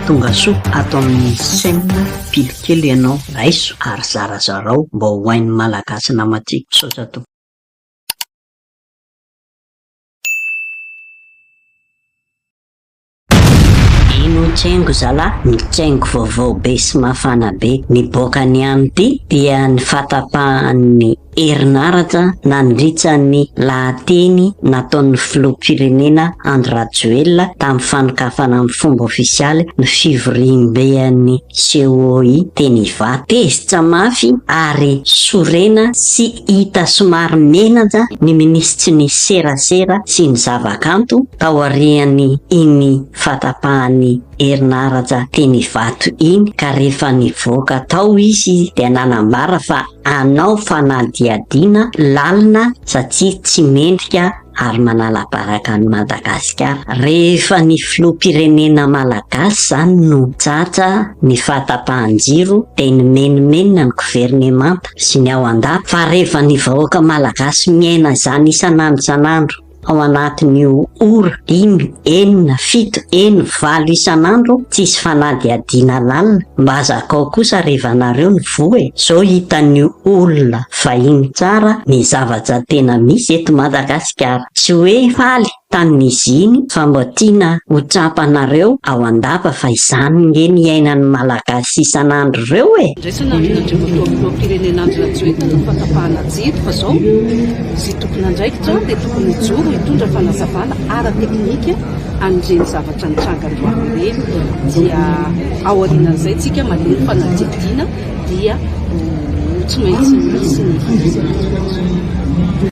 Tongasoa ato amin'ny chaîne pily kely ianao raiso ary zarazarao mba ho hain'ny malagasy namatiako. Misaotra tompoko. Ino tsengo zalah? Ny tsengo vaovao be sy mafana be niboaka ny amity dia ny fatapahan'ny. Herinaratra nandritra ny lahateny nataon'ny Filoham-pirenena Andry Rajoelina tamin'ny fanokafana amin'ny fomba ofisialy ny fivoriamben'ny COI teny Ivato. Tezitra mafy ary sorena sy hita somary menatra ny minisitry ny Serasera sy ny zavakanto taorian'iny fahatapahan'ny herin'aratra teny Ivato iny ka rehefa nivoaka tao izy dia nanambara fa hanao fanadihadiana lalina satria tsy mendrika ary manala baraka an'i Madagasikara. Rehefa ny filoham-pirenena malagasy izany no tratra ny fahatapahan-jiro dia nimenomenona ny governemanta sy ny ao an-dapa fa rehefa ny vahoaka malagasy miaina izany isan'andro isan'andro, ao anatin'io ora dimy, enina, fito, eny, valo isan'andro tsisy fanadihadiana lalina mba zakao kosa revanareo ny voa e! zao hitan'ny olona vahiny tsara ny zavatra tena misy eto Madagasikara! tsy hoe faly tamin'izy iny fa mba tiana ho tsapanareo ao an-dapa fa izany nge ny iainan'ny Malagasy isan'andro reo e! Andraisana avy ny Andriamatoa Filoham-pirenena Andry Rajoelina ny fahatapahana jiro fa zao. Tomponandraikitra dia tokony hijoro hitondra fanazavana ara-teknika an'ireny zavatra nitranga androany ireny dia ao aorianan'izay tsika manao ny fanadihadiana dia ho tsy maintsy misy ny fanazavana.